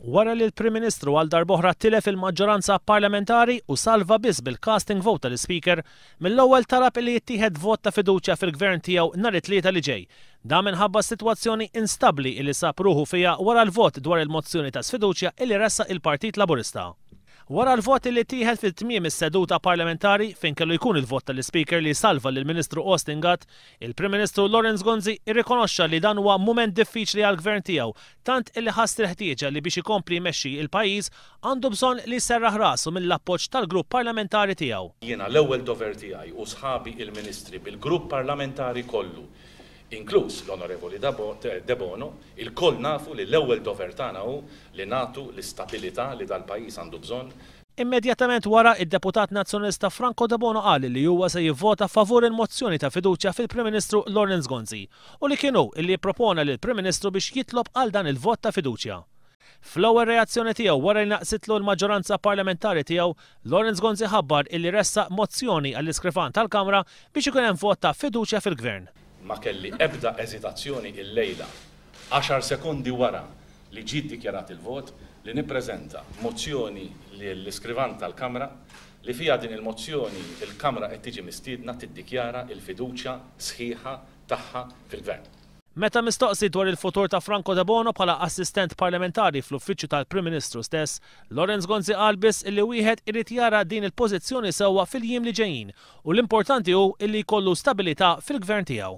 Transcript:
Wara li l-Prim Ministru għal darb'oħra tilef il-maġġoranza parlamentari u salva biss bil-casting vote tal-Ispeaker, mill-ewwel talab illi jittieħed vot ta' fiduċja fil-Gvern tiegħu nhar it-Tlieta li ġej. Dan minħabba s-sitwazzjoni instabbli illi sab ruħu fiha wara l-vot dwar il-mozzjoni ta' sfiduċja illi ressaq il-Partit Laburista. Wara l-vot illi ttieħed fi tmiem is-seduta parlamentari fejn kellu jkun il-vot tal-Ispeaker li jsalva lill-Ministru Austin Gatt, Il-Prim Ministru Lawrence Gonzi rrikonoxxa li dan huwa mument diffiċli għall-Gvern tiegħu, tant illi ħass il-ħtieġa li biex ikompli jmexxi il-pajjiż għandu bżonn li jserraħ rasu mill-appoġġ tal-Grupp Parlamentari tiegħu. Jiena l-ewwel dover tiegħi u sħabi il-Ministri bil-Grupp Parlamentari kollu, inkluż l-Onorevoli Debono, ilkoll nafu li l-ewwel dover tagħna hu li nagħtu l-istabilità li dal-pajjiż għandu bżonn, Immedjatament wara, id-Deputat Nazzjonalista Franco Debono qal li huwa se jivvota favur il-mozzjoni ta' fiduċja fil-Prim Ministru Lawrence Gonzi u li kien hu li ippropona lill-Prim Ministru biex jitlob għal dan il-vot ta' fiduċja. Fl-ewwel reazzjoni tiegħu wara li naqsitlu l-maġġoranza parlamentari tiegħu, Lawrence Gonzi ħabbar illi ressaq mozzjoni għall-Iskrifan tal-Kamra biex ikun hemm vot ta' fiduċja fil-Gvern. Ma kelli ebda eżitazzjoni illejla għaxar sekondi wara li ġie ddikjarat il-vot, li nippreżenta mozzjoni lill-Iskrivan tal-Kamra li fiha din il-mozzjoni l-Kamra qed tiġi mistiedna tiddikjara l-fiduċja sħiħa tagħha fil-Gvern. Meta mistoqsi dwar il-futur ta' Franco Debono bħala Assistent Parlamentari fl-Uffiċċju tal-Prim Ministru stess, Lawrence Gonzi qal biss illi wieħed irid jara din il-pożizzjoni sewwa fil-jiem li ġejjin u l-importanti hu illi jkollu stabilità fil-Gvern tiegħu.